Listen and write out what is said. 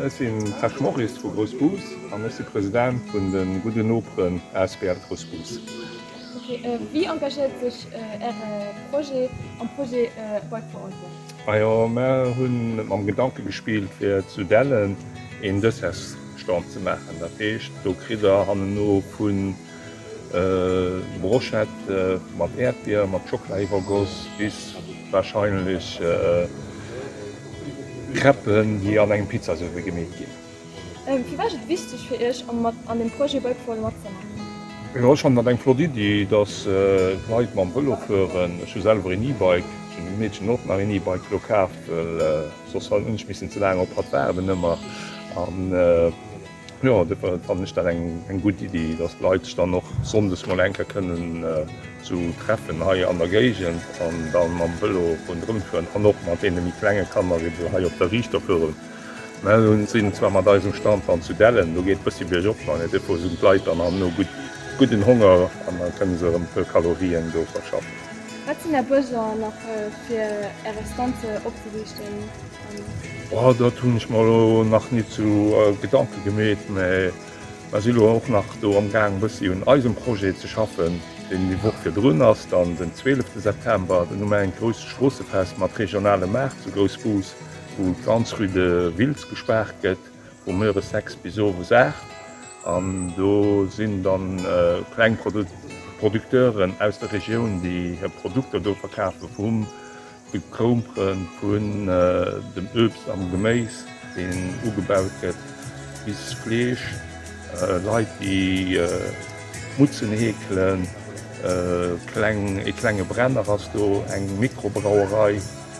Ech sinn Serge Morris vu Grouss Bus an ech si President vun de Gudde Noperen asbl Grouss Bus. Wéi engagéiert sech Äre Projet am Projet Bike for All Bus? Majo mer hunn net mam Gedanken gespillt fir zu Dellen een Dessers Stand ze maachen. Dat heescht do kritt der hanneno vun Brochette mat Äerdbier mat Schockela iwwergoss bis wahrscheinlech Crêpen déi an engem Pizzasouf gemeet ginn. Firwat ass et wichteg fir Iech an dem Projet Bike-for-all matzemaachen? Ech fannen dat eng flott Iddi, dass d'Leit mam Vëlo fueren. Ech hu selwer een E-Bike, ech hunn dem Meedchen och nach een E-Bike elo kaaft, well soss hunn ech missen ze laang op hatt waarden ëmmer. An jo, duerfir fannen ech dat eng gutt Iddi, dass d'Leit sech dann och sonndes mol eng Kéier kënnen esou treffen hei an der Géigend an da mam Vëlo rondrëmfueren an och mat deene méi klenge Kanner ebe hei op der Riichter fueren. Mä lo si mer zwar mat eisem Stand dann zu Dellen, do geet et e bëssi biergop, mä de Depot sinn d'Leit dann am no gutt gudden Honger an da kënne se erëm e puer Kalorien do verschaffen. Wat sinn Är Besoin nach fir Är Estanze opzeriichten an. Oh, dat hunn ech mer lo nach ni zu Gedanke gemeet, mä mer si lo och nach do am Gaang e bëssi un eisem Projet ze schaffen, deen déi Woch virdrun ass dann den 12 September, do hu mer engt grousst Stroossefest mat regionalem Maart zu Groussbus. wou d'ganz rue de Wiltz gespaart gëtt vu Mueres 6 bis Owes 8 an do sinn dann kleng Producteuren aus der Regioun déi hir Produkter do verkafen, vum Gekroumperen, vun dem Uebst an Geméis deen ugebaut gëtt bis Fleesch, Leit déi Mutzen heekelen, e klenge Brenner ass do, eng Mikrobrauerei.